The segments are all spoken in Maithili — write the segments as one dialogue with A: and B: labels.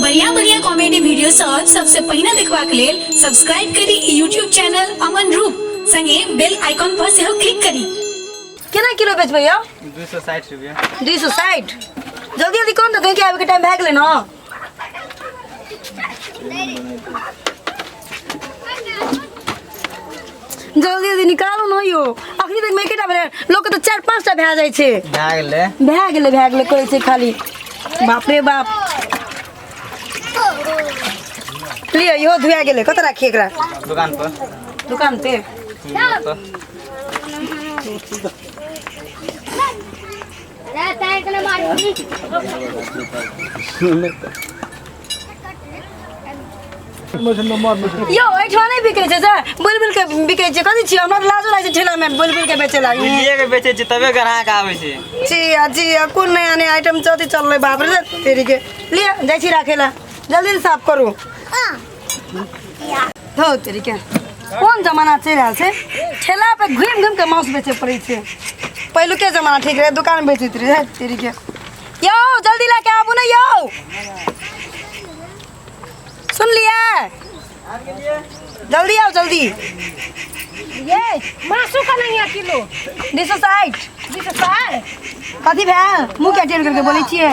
A: बढ़िया बढ़िया कॉमेडी वीडियो सब सबसे पहले देखवा के लेल सब्सक्राइब करी यूट्यूब चैनल अमन रूप संगे बेल आइकॉन पर से क्लिक करी केना किलो बेचबै यौ दू सौ साठ रुपया दुई सौ साठि जल्दी जल्दी कौन तऽ कहीं के आबैके टाइम भए गेलै ने जल्दी जल्दी निकालू ने यौ अखनी तक मे एकेटा भेलै लोकके तऽ चारि पाँच टा भए जाइ छै भए गेलै भए गेलै भए गेलै कहै छै खाली बाप रे बाप लिअ इहो धुआ गेलै कतऽ राखी एकरा दुकान पर दुकान पे दुकान पर यो एहिठाम नहि बिकै छै सर बुलबुल के बिकै छै कथी छियै हमरा तऽ लाजो लागै छै ठेला मे बुलबुल के बेचे लागी बुझिए के बेचे छै तबे ग्राहक आबै छै जिया जिया कोन नया नया आइटम चौथी चललै बाप रे तेरी के लिया जाइ छी राखे ला जल्दी से साफ करू धौ तरीके कोन जमाना चलि रहल छै ठेला पे घुमि घुमि के माउस बेचे पड़ै छै पहिलुके जमाना ठीक रहै दुकान बेचैत रहै तरीके यौ जल्दी लए के आबू ने यौ सुनलियै जल्दी आउ जल्दी ये मासु का नहीं है किलो दू सौ साठि जी तो सार कथी भेल मुँह के टेढ़ करके बोलै छियै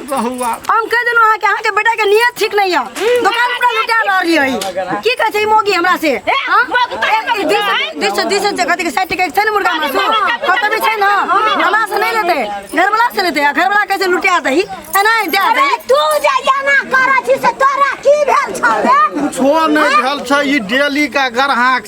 A: बहुआ हम कह देलहुँ अहाँके अहाँके बेटाके नियत ठीक नहि यऽ दोकान पूरा लुटा रहल रही की कहै छै ई मौगी हमरा से हाँ? ए, दू सए- दू सए- दू सए छै, कथी के साठि टके छै ने मुर्गा मासु कतबे छै ने हमरा से नहि लेतै घरवला से लेतै आ घरवला कहै छै लुटा दही एना ही दए दही तू जे एना करै छी से तोरा की भेल छौ रे छोड़ नहि भेल छै ई डेली का गरहा